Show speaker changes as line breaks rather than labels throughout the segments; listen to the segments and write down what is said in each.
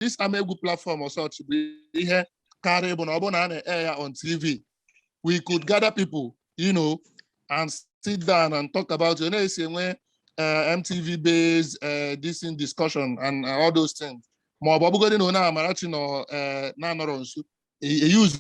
this ama egwu platform or such bụ ihe karịa bụ na ọ bụrụ na a na-air ya on TV we could gather people you know and sit down and talk about it na-esi enwe eh, MTV Base eh, this thing discussion and eh, all those things ma ọ bụ ọbụgodị na onye Amarachi nọ eh, na-anọrọ nso e- e use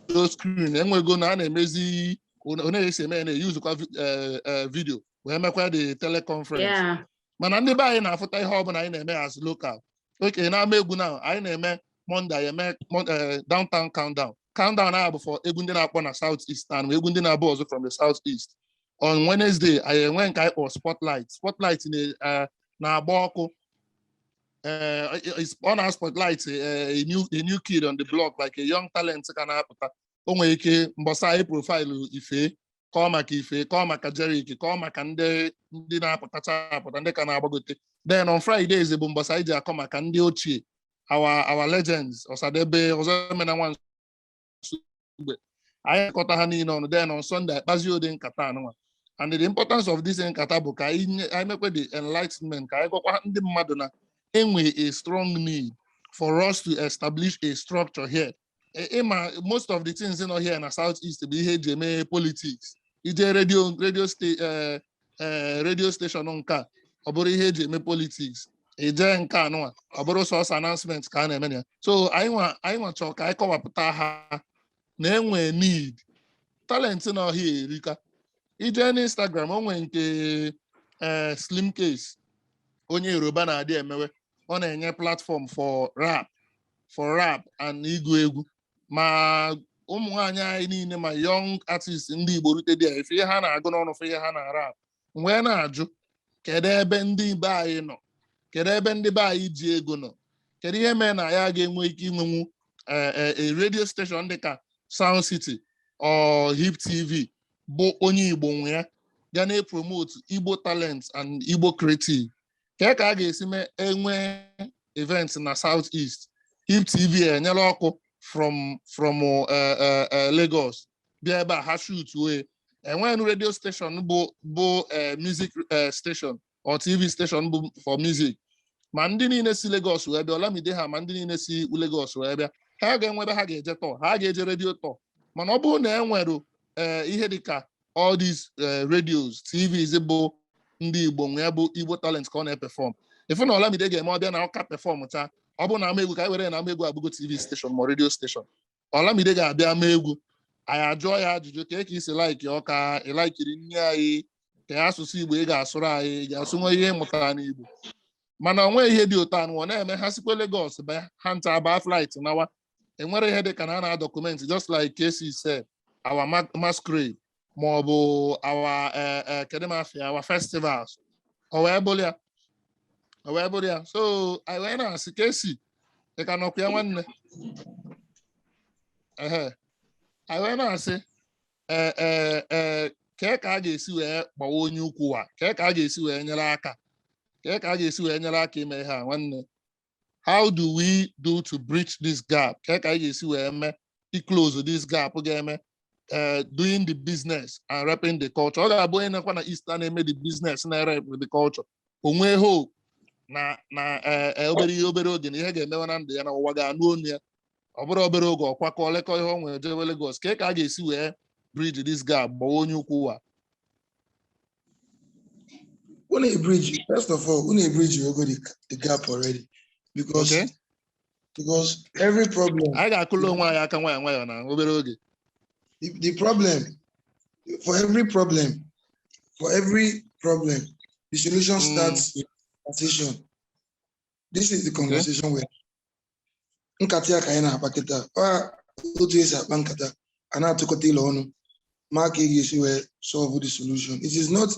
those screen enwego na a na-emezi onye esi eme ya na-eyuzukwa vi- eh, eh, video wee mekwa the teleconference Yeah. mana ndị be anyị na-afụta ihe ọbụla anyị na-eme as local okay na ama egwu na anyị na-eme Monday anyị eme Mon- eh, downtown countdown countdown ahụ bụ for egwu ndị na-akpọ na south east and egwu ndị na-abụ ọzọ from the south east on Wednesday anyị enwe nke anyị kpọrọ spotlight spotlight na- eh, na-agba ọkụ eh, is- ọ na spotlight eh, a new a new kid on the block like a young talent ka na-apụta o nwere ike mbọsị a anyị profaịlụ ife kọọ maka ife kọọ maka jeriq kọọ maka ndị ndị na-apụtacha apụta ndị ka na-agbagote then on Fridays bụ mbọsị anyị ji akọ maka ndị ochie our our legends ọsadebe ọzọemena nwa nsugbe anyị kọta ha niile ọnụ then on Sunday akpazi ụdị nkata anụnwa and the importance of this nkata bụ ka anyị mekwa the enlightenment ka anyị gwakwa ndị mmadụ na enwe a strong need for us to establish a structure here ị ma most of the things nọ here na south east bụ ihe eji eme politics i jee redio redio eh, eh, redio station nke a ọ bụrụ ihe eji eme politics i jee nke anụwa ọ bụrụ sọsọ announcement ka a na-eme ya so anyị nwa chọọ ka anyị kọwapụta ha na enwe need talent nọ here erika i jee n'Instagram o nwe nke eh, slimcase onye yoruba na-adị emewe ọ na-enye platform for rap for rap and ịgụ egwu ma ụmụ nwaanyị anyị niile ma young artist ndị Igbo rute dị ị fụ ihe ha na-agụ n'ọnụ fụ ihe ha na-rap wee na-ajụ kedu ebe ndị be anyị nọ kedu ebe ndị be anyị ji ego nọ kedu ihe mere na ya ga-enwe ike inwenwu e, e, e, redio steshọn dị ka Sound City or Hip TV bụ onye Igbo nwe ya ga na-epromote Igbo talent and Igbo creative kee ka a ga-esi mee enwe event na south east hip tv enyere ọkụ from from eh, eh, eh, lagos bịa ebe a ha shootuo ya enweghị redio station bụ bụ eh, music eh, station or tv station bụ for music ma ndị niile si lagos wee bịa olamide ha ma ndị niile si lagos wee bịa ha ga-enwe ebe ha ga-eje tour ha ga-eje redio tour mana ọ bụrụ na e nwere eh, ihe dịka all these eh, radios tvs bụ ndị igbo nwe ya bụ igbo talent ka ọ na-epefọm ị fụ na olamide ga-eme ọ bịa na ọka pefọm taa ọ bụ na ama egwu ka anyị were na ama egwu abụgo tv steshọn ma redio steshọn olamide ga-abịa ama egwu anyị ajụọ ya ajụjụ kee ka i si laiki ọka ị laikiri nri anyị ka ya asụsụ igbo ị ga-asụrụ anyị ị ga-asụ o nwe ihe ị mụtara n'igbo mana o nwe ihe dị otu anụ ọ na-eme ha sikwa Lagos bịa ha nta baa flight nawa e nwere ihe dịka na a na-adọkumenti just like Casey said our ma- masquerade ma ọ bụ our eh, eh, kedu m afa ya our festivals o wee bụrụ ya o wee bụrụ ya so anyị wee na-asị Casey ị ka nọkwa ya nwanne ehe anyị wee na-asị eh, eh, eh, kee ka a ga-esi wee gbawa onye ukwu wa kee ka a ga-esi wee nyere aka kee ka a ga-esi wee nyere aka ime ihe a nwanne how do we do to bridge this gap kee ka anyị ga-esi wee mee close this gap ga-eme eh, doing the business and repping the culture ọ ga-abụ onye nọkwa na East na-eme the business na-erep the culture o nwee hope na na eh, eh, obere ihe obere oge na ihe ga-emewe na ndụ ya na ụwa ga-anụ onu ya ọ bụrụ obere oge ọ kwakọlikọ ihe o nwere jewe Lagos kee ka a ga-esi wee bridge this gap gbawa onye ukwu ụwa Unu ebridge, first of all, unu ebridgego the, the gap already because Okay. because every problem, anyị ga-akụlụ onwe anyị aka nwayọ nwayọ na obere oge the, the problem for every problem, for every problem, the solution Mm. starts with conversation. This is the conversation where nkata ya ka anyị na-akpa kịta ọ otu e si akpa nkata a na-atụkọta alo ọnụ ma ka a ga-esi wee solve the solution it is not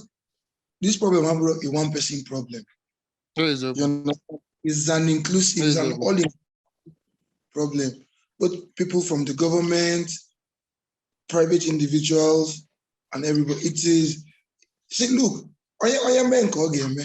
this problem abụrọ a one person problem Ọ eziokwu. You know, it's an inclusive, it's an Eziokwu. all problem. Both people from the government, private individuals, and everybody. It is, see, look, onye onye mee nke ọ ga-eme,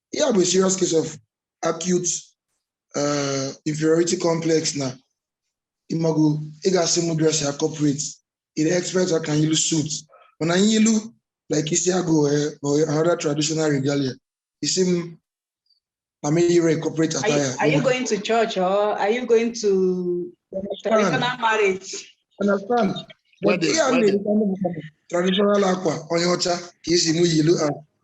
ihe a bụ serious case of acute uh, inferiority complex na ị mago ị ga-asị m dressịa corporate ị na-expect ka anyị yilu suit mana anyị yilu like isi agụ eh, or another traditional regalia ị sị m na m yiro corporate Are you, attire are you going to church or are you going to traditional marriage? understand but Wedding, ihe a wedding. na-erikwa ndị mmadụ traditional akwa onye ọcha ka ị sị mụ yilu a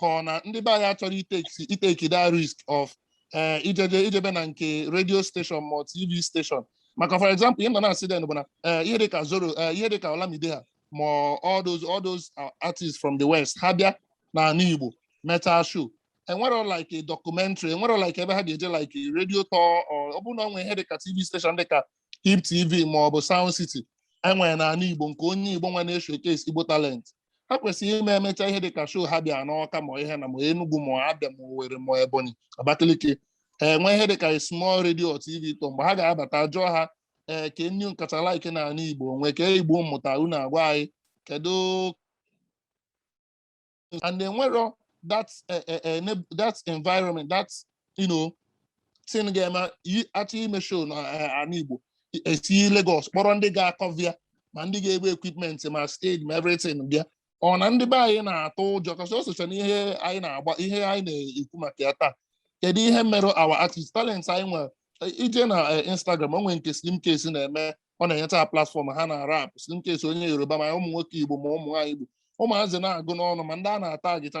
ka ọ na ndị be anyị achọrọ iteki iteki that risk of eh, ijeje ijebe na nke radio station ma ọ tv station maka for example ihe m nọ na-asị then bụ na eh, ihe dịka zoro eh, ihe dịka olamide ha ma ọ- all those all those uh, artists from the west ha bịa na ala igbo meta show enwero like a documentary enwero like ebe ha ga-eje like a radio tour or ọ bụrụ na ọ nwee ihe dịka tv station dịka hip tv ma ọ bụ sound city enwere na ala igbo nke onye igbo nwe na-eshowcase igbo talent ha kwesịrị ime emecha ihe dị ka show ha bịa n'Ọka ma ihe na ma Enugu ma Abịa ma Owerri ma Ebonyi Abakaliki ha enwe ihe dị ka small radio TV tour mgbe ha ga-abata jụọ ha ee kee nni ị kacha like na ala Igbo nwee ke Igbo mmụta unu agwa anyị kedu and enwero that eh, eh, eh, neb- that environment that ino tin ga-eme a chọọ ime show na ana Igbo e si Lagos kpọrọ ndị ga-akọva ya ma ndị ga-ebu equipment ma stage ma everything bịa ọ na ndị be anyị na-atụ ụjọ kasị o socha na ihe anyị na-agba ihe anyị na-ekwu maka ya taa kedu ihe mere our artist talent anyị nwere i jee na Instagram o nwere nke Slimcase na-eme ọ na-enyeta ha platfọm ha ana-arap Slimcase onye Yoruba ma ụmụ nwoke Igbo ma ụmụ nwaanyị Igbo ụmụazị na-agụ n'ọnụ ma ndị a na-ata gịta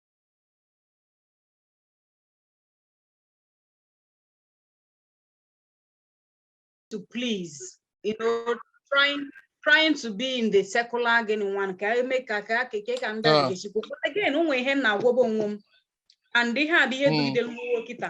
to please, you know, trying trying to be in the secular gịnị nwanne ka m mee ka ka ka ka ndị a ga-echikwa again o nwee ihe m na-agwabu onwe m and ihe a bụ ihe dugide m wee ruo kịta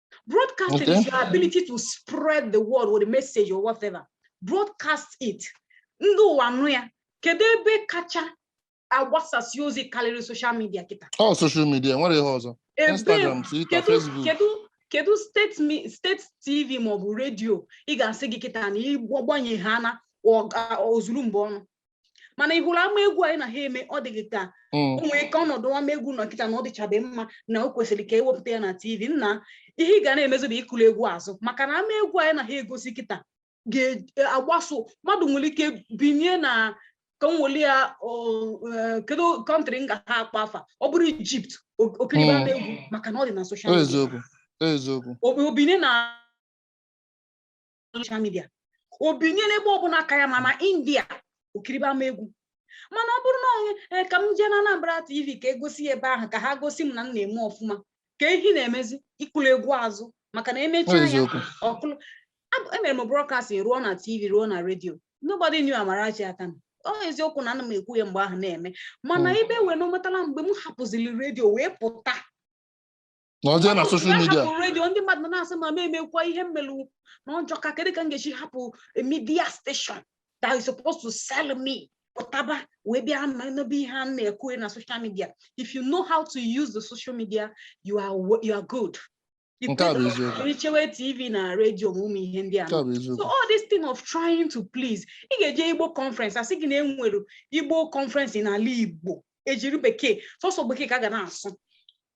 Broadcasting okay. is your ability to spread the word or the message or whatever. Broadcast it. Ndị ụwa nụ ya. Kedu ebe kacha agbasasị ozi karịrị social media kịta? Ọ oh, social media o nwere ebe ọzọ. Instagram, Twitter, Facebook. Kedu kedu steeti steeti TV maọbụ redio ị ga-asị gị kịta na ị gbanye ha na o zuru mba ọnụ? mana ị hụrụ ama egwu anyị na ha eme ọ dịghị ka mm. o nwee ka ọnọdụ ama egwu nọ kịta na ọ dịchabe mma na o kwesịrị ka e wepụta ya na tv nna ihe ị ga na-emezi bụ ịkụrụ egwu azụ maka na ama egwu anyị na ha egosi kịta ga-agbaso mmadụ nwere ike binye na ka m weli ya e, kedu kọntrị m ga-akpọ afa ọ bụrụ ijipt o kiriba ama egwu mm. maka na ọ dị na soshal midia o binye na soshal midia o binye n'ebe ọbụla aka ya ma na india o kiribe ama egwu mana ọ bụrụ na onye eh, ka m jee na Anambra TV ka e gosi ya ebe ahụ ka ha gosi m na m na-eme ọfụma ka ihe ị na-emezi ịkụlụ egwu azụ maka na emechi anya ọkụlụ emere m brọkastin ruo na tv ruo na redio nobody knew Amarachi Akanu ọ eziokwu na ana m ekwu ya mgbe ahụ na-eme mana hmm. ebe wee na o metala mgbe m hapụziri redio wee pụta na ọ jee na soshal midia redio ndị mmadụ na-asị ma m emekwa ihe m melụ na ọ jọka kedu ka m ga-esi hapụ midia steshọn that is supposed to sell me pụtaba wee bịa n'ebe ihe a na-ekwu na social media if you know how to use the social media you are you are good i chewe tv na redio ma ụmụ ihe ndị a so all this thing of trying to please ị ga-eje igbo conference a sị gị na e nwere igbo conference n'ala igbo e jiri bekee sọsọ bekee ka a ga na-asụ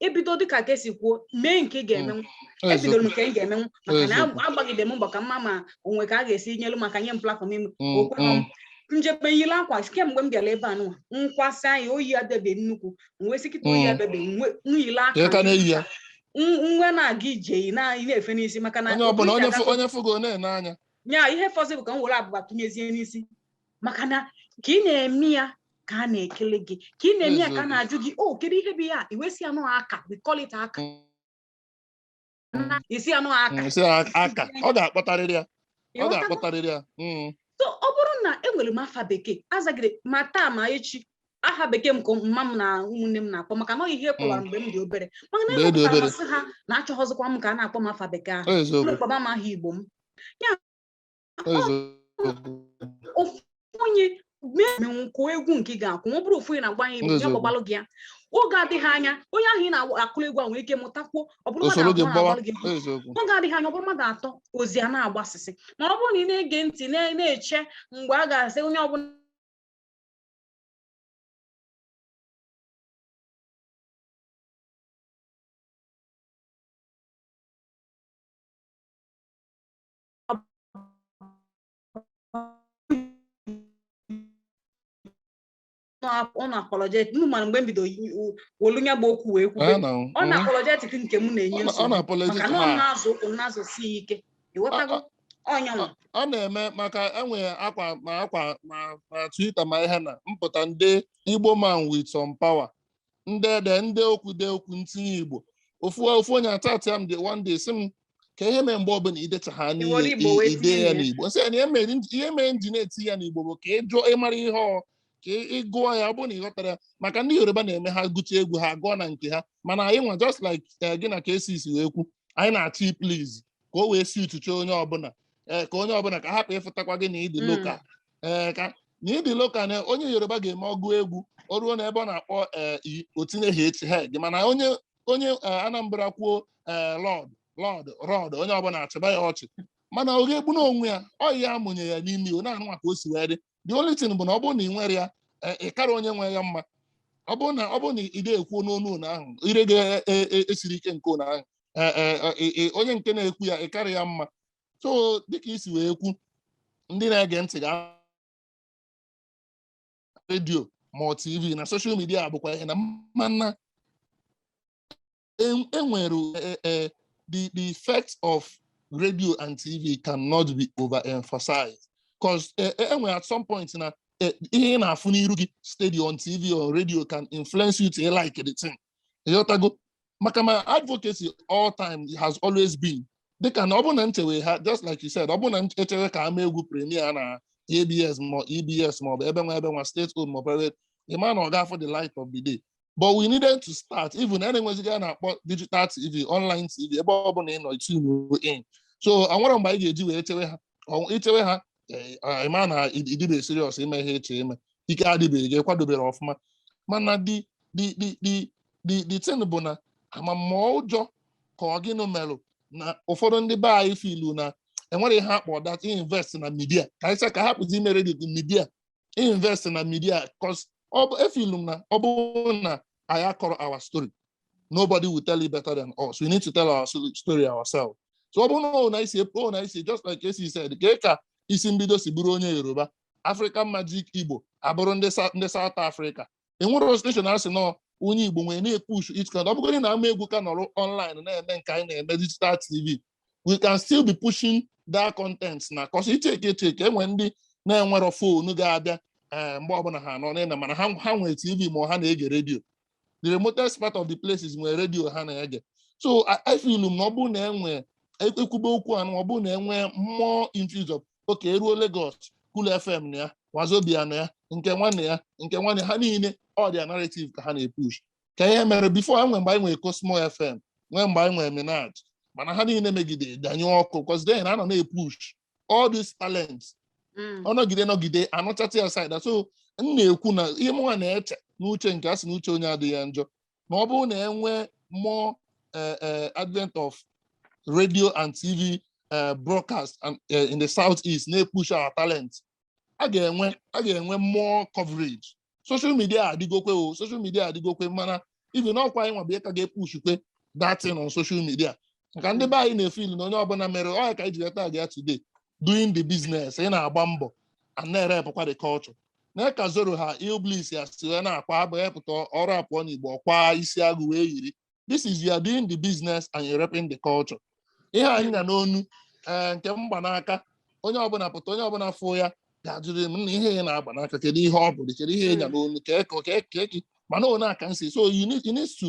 ibido dịka ka esi kwuo mee nke ị ga-emenwu mm. ebidoro nke m ga-emenwu maka na agbagide m mbọ ka m ma ma o nwe ka a ga-esi nyelu m aka nye m platform ime mm, okwe mm. m jebe yiri akwa kemgbe m bịara ebe a nụwa nkwasị anyị oyi adebe nnukwu uwe sikịta oyi adebe nweyile aka nwe na-aga ije yi na-efe n'isi maka na onye fụgo na-ene anya nya ihe fọzị bụ ka m were abụba tụnyezie n'isi maka na ka ị na-eme ya ka a na-ekele gị ka ị na-eme ya ka a na-ajụ gị o oh, kedu ihe bụ ya iwesi anụ aka we call it aka isi anụ aka aka ọ ga-akpọtarịrị ya ọ ga-akpọtarịrị ya hmm. so ọ bụrụ na enwere m afa bekee azagide ma taa ma echi aha bekee m ka mama m na ụmụnne m na-akpọ maka na ọ ihe kpọwara m mgbe m dị obere mana na-enwepụta m asị ha na achọghịzikwa m ka a na-akpọ m afa bekee ahụ kpọba m aha igbo m ya ofu onye menwu kụọ egwu nke ị ga-akụnwu ọ bụrụ ofu onye na-agba anyị bụ ya gbagbalụ gị ya oge adịghị anya onye ahụ ị na-akụrụ egwu a nwere ike mụtakwuo ọ bụrụ mmadụ abụọ na-agbalụ gị egwu oge adịghị anya ọ bụrụ mmadụ atọ ozi a na-agbasịsị ma ọ bụrụ na ị na-ege ntị na-eche mgbe a ga-asị onye ọbụla unapologetic unu mara mgbe m bido welu nya bụ okwu wee kwube unapologetic nke m na-enye nsogbu maka na ọ na-azọ ụkwụ na-azọsi ya ike ị ghọtago ọ nyanwa ọ na-eme maka enwere akwa ma akwa ma Twitter ma ihe na mpụta ndị Igbo man with some power m dee m dee okwu dee okwu m tinye igbo ofu ofu onye atati m dị one day sị m kee ihe mee mgbe ọbụla idecha ha Ị were Igbo wee dee tinye ya ya. n'igbo sị ya na ihe mere m ji- ihe mere m ji na-eti ya n'igbo bụ ka ị jụọ ị mara ihe ọ ka ị- ị gụọ ya ọ bụrụ na ị ghọtara ya maka ndị yoruba na-eme ha gụcha egwu ha gụọ na nke ha mana anyị nwa just like eh, gị na ka esi isi wee kwu anyị na-achọ please ka o wee si uchuche onye ọbụla eh, ka onye ọbụla ka hapụ ịfụtakwa gị na ị dị Mm. local ee ka na ị dị local na onye yoruba ga-eme ọ gụ egwu o ruo n'ebe ọ na-akpọ ee i o tinyeghị H ha gị mana onye onye ee, anambra kwuo ee load load road onye ọbụla achịba ya ọchị mana ọ ga-egbu n'onwe ya ọ ya amụnye ya n'imi ọ na-anụ maka o si wee dị the only thing bụ na ọ bụrụ na ị nwere ya ee, ị kara onye nwe ya mma ọ bụrụ na ọ bụrụ na ị ga-ekwu n'onu ụlọ ahụ ire ga-esiri ike nke ụlọ ahụ ee, ee, ee, ee, onye nke na-ekwu ya ị karị ya mma so dịka i si wee kwu ndị na-ege ntị ga redio ma ọ tv na soshal midia bụkwa ihe na mana enwere e e, e, the the effect of radio and tv cannot be overemphasized cause enwere at some point na ihe ị na-afụ n'iru gị steady on tv or radio can influence you to like the thing ị ghọtago maka my advocacy all time has always been dịka na ọ bụ na nchewe ha just like you said ọ bụ na e chewe ka ama egwu premier na abs ma ebs ma ọ bụ ebe nwa ebe nwa state owned ma private ị ma na ọ ga-afụ the light of the day but we needed to start even a na-enweziga na-akpọ digital tv online tv ebe ọ bụla ị nọ tune in so enwerọ mgbe anyị ga-eji wee chewe ha i chewe ha ị ma e, na ị dịbe serious ime ihe eche ime ike adịbeghị ị kwadoberọ ọfụma mana the the the the the the thing bụ na ama m ma ọ ụjọ ka ọ gịnị merụ na ụfọdụ ndị be anyị filu na enwere ihe a kpọ that invest na midia ka anyị ka ha pụzi imere the midia invest na media cause efilu m na ọ bụrụ na anyị akọrọ our story nobody will tell it better than us we need to tell our story ourselves so ọ bụrụ na ọ na isi ọ na isi just like esi said ka ka isi mbido si bụrụ onye yoruba africa magic igbo abụrụ ndị south africa enwerọ steshọn a sị na ọ onye igbo nwere na-epush it kan ọ bụgodị na ama egwu ka nọrọ online na-eme nke anyị na-eme digital tv we can still be pushing that content na cause i cheke echeke enwe ndị na-enwerọ fonu ga-abịa eh, mgbe ọbụla ha nọ n'ịna mana ha ha nwere tv ma ha na-ege redio the remotest part of the places nwere redio ha na-ege so I I feel na ọ bụrụ na enwe ekwube okwu anụ ọ bụrụ na enwe more infuse of okay e ruo Lagos Cool FM na ya Wazobia na ya nke nwa na ya nke nwa na ha niile ọ dị narrative ka ha na-epush ka ihe mere before e nwee mgbe anyị nwere Cosmo FM nwee mgbe anyị nwere Minaj mana ha niile megide gbanyụ ọkụ because then ha nọ na-epush all these talents mm. ọ nọgide nọgide anọchata aside so m na-ekwu na ihe mụnwa na-eche n'uche nke a sị na uche onye adịghị ya njọ na ọ bụrụ na enwe more eh, eh, advent of radio and tv eh, broadcast and, eh, in the south east na-epush our talent a ga-enwe a ga-enwe more coverage social media adịgokwe o social media adịgokwe mana even ọkwa anyịnwa bụ ka ga-epushkwa that thing on social media maka ndị be anyị na-efil na onye ọbụla mere ọ ya ka anyị ji weta gị ya today doing the business ị na-agba mbọ and na-erepkwa the culture na ka Zoro ha Illbliss ha si wee na-akwa abụ epụta ọ rapụọ n'igbo ọ kwa isi agụ wee yiri this is you are doing the business and you're repping the culture ihe anyị nya n'onu eh, nke m gba n'aka onye ọbụla pụta onye ọbụla fụ ya ga-ajụrụ m na ihe ị na-agba n'aka kedu ihe ọ bụ kedu ihe ị nya n'onu ka eke ka eke mana one aka nsi so you need, you need to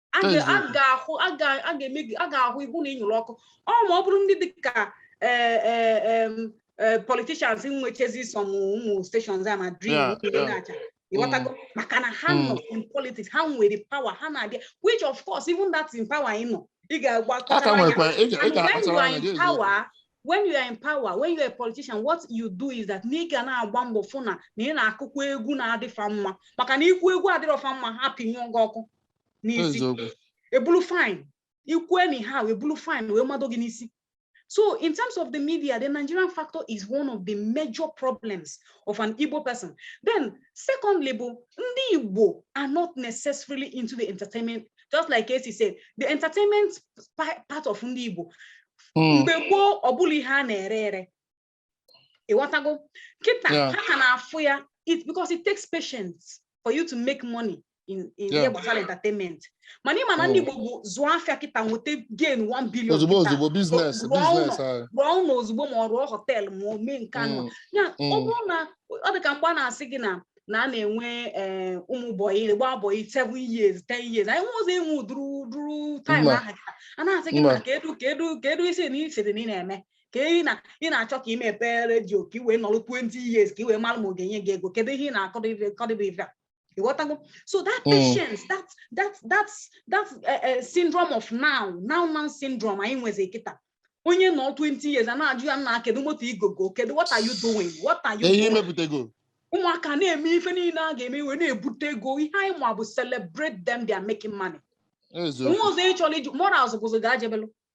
a ga- a Eziokwu. ga-ahụ a ga- a ga-eme gị a ga-ahụ ihu na ịnyụrụ ọkụ ọ ma ọ bụrụ ndị dị ka eh, eh, em, eh, politicians nwechezi sọm ụmụ stations a ma dream Yeah, ụmụ yeah. na-acha ịghọtago maka na ha Mm. nọ in politics ha nwere power ha na-abịa which of course even that in power ị nọ ị ga-agba a ka kọchara ya nwekwa ị ga- ị And when you ga-akpachara are anya in dị eziokwu. power, when you are in power, when you are a politician, what you do is that na ị ga na-agba mbọ fụ na na ị na-akụkwa egwu na-adị fa mma maka na ị kụọ egwu adịrọ fa mma ha pịnyụọ gị ọkụ n'isi e bulu fine i kwue na ihe a e bulu fine wee mado gị n'isi so in terms of the media the Nigerian factor is one of the major problems of an Igbo person then secondly bụ ndị Igbo are not necessarily into the entertainment just like Casey said the entertainment part of ndị Igbo hmm. mgbe gboo ọ bụrọ ihe a na-ere ere ịghọtago kịta Yeah. ha ka na-afụ ya it because it takes patience for you to make money in in ihe Yeah. gbasara entertainment mana ị ma na ndị Mm. Igbo bụ zụọ afịa kịta nweta gain 1 billion ozugbo kịta, ozugbo biznes rụọ ụlọ. biznes anyị rụọ ụnọ ozugbo ma ọ rụọ họteelụ ma o mee nke anụ Mm, ya ọ mm. bụrụ na ọ dị ka mgbe a na-asị gị na na a na-enwe eh, ụmụ bọyị gbaa bọyị 7 years 10 years anyị nwezi enwe ụdịrị ụdịrị taịm Mba. ahụ kịta. a na-asị gị Mba. na kedu kedu kedu isi na ị sịrị na ị na-eme ka ị na ị na-achọ ka ị mepee redio ka ị wee nọrọ 20 years ka ị wee mara ma ọ ga-enye gị ego kedu ihe ị na-akọdị bụ ife a ịghọtago so that hmm. patience that that that that eh, eh, syndrome of now now now syndrome anyị nwezi kịta onye nọ 20 years a na-ajụ ya nna kedu moto i gogo kedu what are you doing what are you ihe i mepụtago ụmụaka na-eme ife niile a ga-eme e wee na-ebute ego ihe anyị ma bụ celebrate them they are making money nwa ọzọ ị chọrọ iji morals bụzụ ga-ajebelụ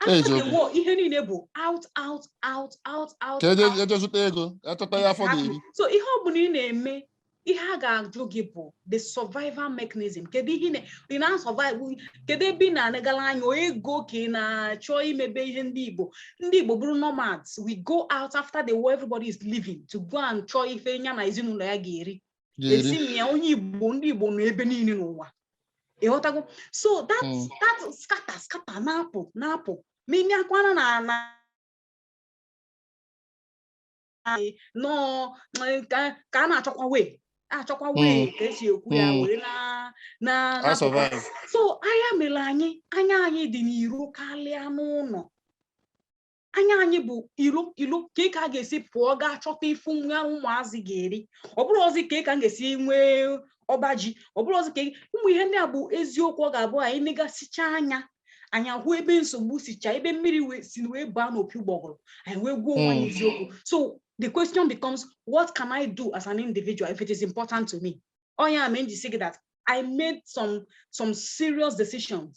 after the war ihe niile bụ out out out out out e je zụta ego a chọta ihe afọ ga-eri so ihe ọ bụla ị na-eme ihe a ga-ajụ gị bụ the survival mechanism kedu ihe ị na-asurvive kedu ebe ị na-anagala anya ego ka ị na-achọ imebe ihe ndị Igbo ndị Igbo bụrụ nomads we go out after the war everybody is leaving to go and chọọ ife nya na ezinụlọ ya ga-eri esi m ya onye igbo ndị igbo nọ ebe niile n'ụwa ịghọtago so that hmm. that scatter scatter na-apụ na-apụ ma ị mịakwana na n'ụnọ ka a na-achọkwa wee achọkwa hmm. wee ka e si ekwu ya hmm. were na so ọ nya mere anyị anya anyị dị n'iro karịa n'ụnọ anya anyị bụ ilo ilo ka ka a ga-esi pụọ gaa chọta ife ụmụazị ga-eri ọ bụrụzi ka ka m ga-esi nwee ọba ji ọ bụrụzi ka ụmụ ihe ndị a bụ eziokwu ọ ga-abụ anyị negasịcha anya anyị ahụ ebe nsogbu sicha ebe mmiri si wee baa n'opi ụgbọgụrụ anyị wee gwa onwe anyị hmm. eziokwu so the question becomes what can I do as an individual if it is important to me ọ ya mee m ji sị gị that I made some some serious decisions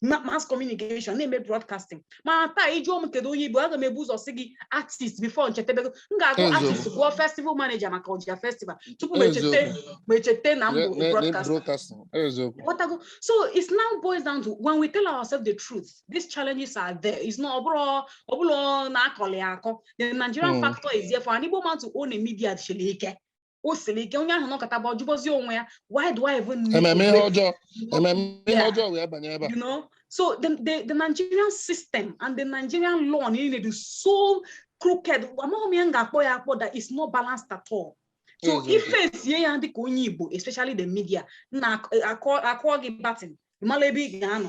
ma- mass communication na-eme broadcasting mana taa ị jụọ m kedu onye ị bụ aga m ebu ụzọ sị gị artist before nchetebego m ga-agụ Ezo. artist gụọ festival manager maka ọja festival tupu m echete Eziokwu. m echete na m Ne- bụ ne- ne- broadcaster broadcasting. Eziokwu. Whatever. So it now boils down to when we tell ourselves the truth, these challenges are there. It's not ọ bụrọ ọ bụrọ na-akọli akọ. The Nigerian Mm. factor is there for an Igbo man to own a media siri ike. o siri ike onye ahụ nọkataba ọ jụbazi onwe ya why do I even need ememe ihe ọjọọ ememe ihe Yeah. ọjọọ wee banye ebe a you know so the, the, the nigerian system and the nigerian law niile dị so crooked amaghị m ma m ga-akpọ ya akpọ that is not balanced at all so Eziokwu. ife esie ya dịka onye igbo especially the media na akụọ akụọ gị baton ị mala ebe ị ga-anọ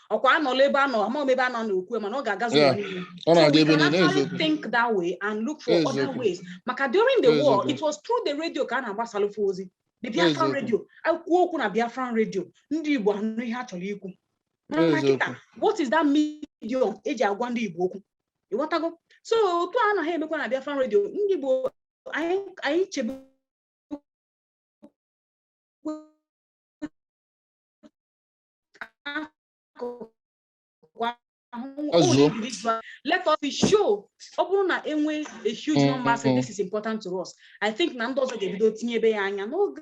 ọkwa anọla ebe anọ ama m ebe anọ na-ekwu mana ọ ga-agazi Yeah. ụwa niile. ọ So na-aga we ebe can niile actually eziokwu think that way and look for other Eziokwu. ways. Maka during the war, Eziokwu. it was through the radio ka a na-agbasalụfe ozi. The Biafran Eziokwu. radio, e kwuo okwu na Biafran radio, ndị Igbo anụ ihe a chọrọ ikwu. Mana Eziokwu. kịta, what is that medium eji agwa ndị Igbo okwu? Ị ghọtago? So otu a anaghị emekwa na Biafran radio, ndị Igbo anyị anyị chebe let us be sure ọ bụrụ na e nwee a huge mm-hmm. number say this is important to us i think na ndị ọzọ ga-ebido tinye ebe ya anya n'oge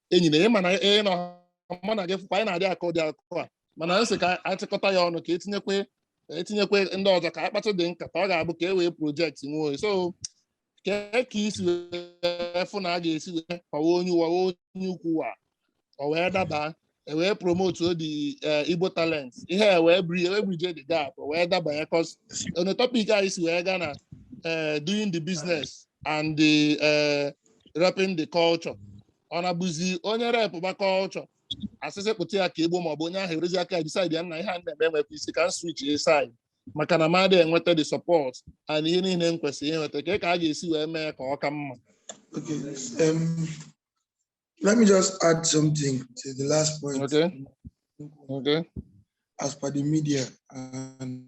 enyi na ịma na ị nọ mụ na gị fụkwa anyị na-adị akọ ụdị akụkọ a mana anyị sị ka anyị chịkọta ya ọnụ ka etinyekwe etinyekwe ndị ọzọ ka a kpatụdị nkata ọ ga-abụ ka e wee project onwe anyị so kee ka ị si wee fụ na a ga-esi wee kọwa onye ụwa wee onye ukwu wa ọ wee daba e wee promote odi eh, igbo talent ihe a wee bri wee bridge the gap ọ wee daba ya cos on the topic anyị si wee gaa na eh, doing the business and the eh, repping the culture ọ na-abụzi onye rep gba culture a sị sị kpụta ya ka e gbuo maọbụ onye ahụ erezi aka decide ya nna ihe a m na-eme enwekwa isi ka m switch ya side maka na m adị enweta the support and ihe niile m kwesịrị inweta kee ka a ga-esi wee mee ka ọ ka mma Okay. Um, let me just add something to the last point. Okay. Okay. As per the media and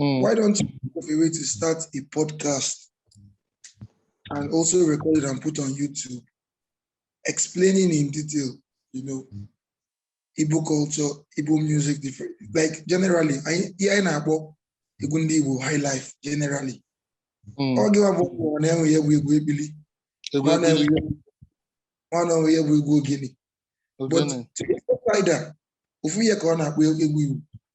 Mm. Why don't you think of a way to start a podcast and also record it and put on YouTube, explaining in detail, you know, Mm. Igbo culture, Igbo music, different like generally, yeah, a na-akpọ egwu ndị Igbo high life generally. Mm. Ọ gịwa bụ ụwa na-enwe ya bụ egwu ekpili, Egwu nwa na-enwe ekpili, ya bụ- nwa na-enwe ya bụ egwu ogene. But ogene. to the outsider, ofu ihe ka ọ na-akpọ egwu Igbo.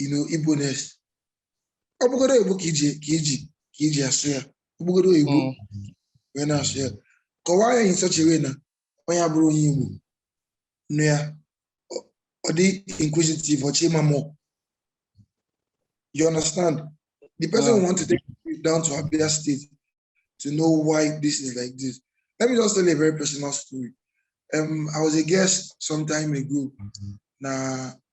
you know Igboness ọ bụgodu oyibo ka i ji ka i ji ka i ji asụ ya ọ bụgodu oyibo Mm. wee na-asụ ya kọwaa ya in such a way na onye abụrọ onye Igbo nụ ya ọ- ọ dị inquisitive ọ chọọ ịma more you understand the person Mm. want to take you down to Abia State to know why this is like this. Let me just tell you a very personal story. Um, I was a guest some time ago na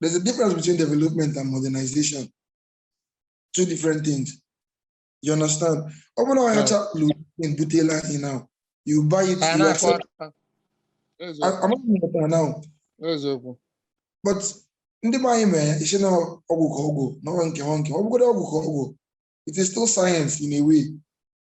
There's a difference between development and modernization. Two different things. You understand? Ọ bụrụ na onye ọcha lụrụ ihe butelu anyị now, you buy it, Anyị you na-akụ accept. aka. Eziokwu, I- I'm not better now, eziokwu. but ndị be anyị mere ya, ị sị na ọgwụ ka ọ bụ, na ọgwụ nke ha nke. Ọ bụgodị ọgwụ ka ọ bụ, it is still science in a way.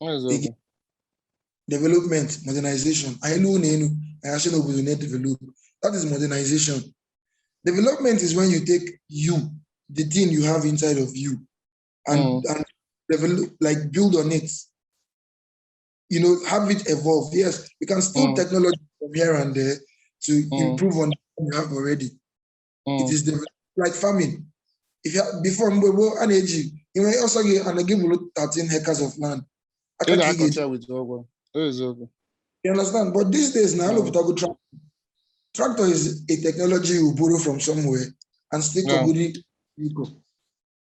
eziokwu development modernization anyị lụọ ụlọ elu anyị asị n'obodo na-edevelop that is modernization development is when you take you the thing you have inside of you and Mm. and develop like build on it you know have it evolve yes we can steal Mm. technology from here and there to Mm. improve on what we have already Mm. it is developed like farming if you, before mgbe gboo a na-eji i nwee ọ sọ gị ana gị bụrụ 13 hectares of land Ị aka ka ị ga-eji ga-akọcha with ọgụ. Eziokwu. You understand? But these days now, Mm. a lụpụtago tractor. Tractor is a technology you borrow from somewhere and still Yeah. yeah.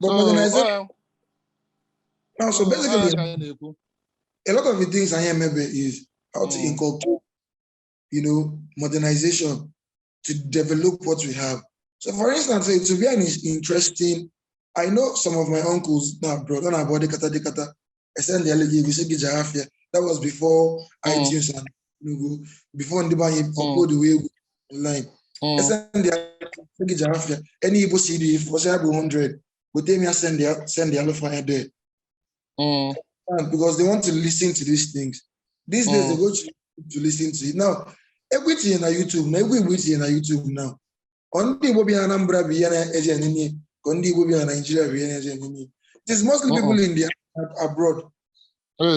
But So, modernization, ọ- now, so ọ- ọ ya basically, ka anyị na-ekwu. a lot of the things I am maybe is how to Mm. inculcate, you know, modernization to develop what we have. So, for instance, it will be an is- interesting. I know some of my uncles now, brother, and body kata de kata. e sendịa gị ego sị gị jee afịa that was before mm. iTunes and co before ndị be anyị mm. uploaduwe egwu online mm. e sendịa gị jee afịa any Igbo CD ị fụ ọ sị ya bụ 100 weta m ya sendịa sendịalụ fa ya there because they want to listen to these things these days they go to, to listen to it now egwu i tinye na YouTube na egwu Igbo i tinye na YouTube now ka ndị Igbo bi na Anambra bụ ihe na-eji enye n'ihe ka ndị Igbo bi na Naịjirịa bụ ihe na-eji enye n'ihe it is mostly uh-uh. people in the abroad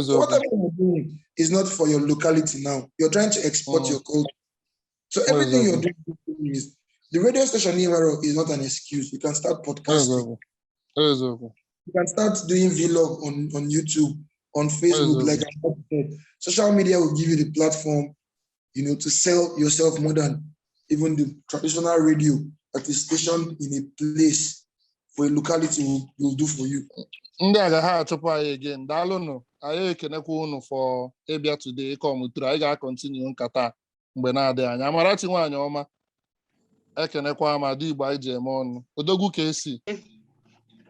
so whatever you're doing is not for your locality now you're trying to export uh-huh. your culture so everything you're doing is the radio station ewerọ is not an excuse you can start podcasting you can start doing vlog on on YouTube on Facebook like social media will give you the platform you know, to sell yourself more than even the traditional radio that is stationed in a place for a locality will, will do for you. ndị a ga ha achụpụ anyị again daalụnụ anyị ekenekwa unu for ịbịa today ịkọmụtụrụ anyị ga-acontinue nkata a mgbe na-adịghị anya Amarachi nwaanyị ọma ekenekwa m ada igbo anyị ji eme ọnụ odogwu ka esi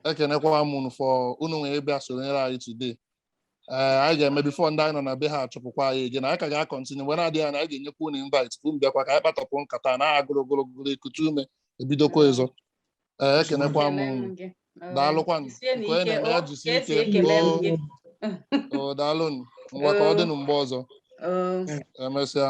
ekenekwa m unu for unu nwee bịa sonyere anyị today ee anyị ga-eme before ndị anyị nọ na be ha achụpụkwa anyị ege na anyị ka ga-akọntinu mgbe na-adịghị anya anyị ga-enyekwa unu invite ka unu bịakwa ka anyị kpatọpụ nkata na agụrụ ogologo ekute ume ebidokwa ọzọ ee ekenekwa m unu daalụkwanụ nke onye na-eme ya jisi ike oo oo daalụnụ ngwa ka ọ dịnụ mgbe ọzọ emesịa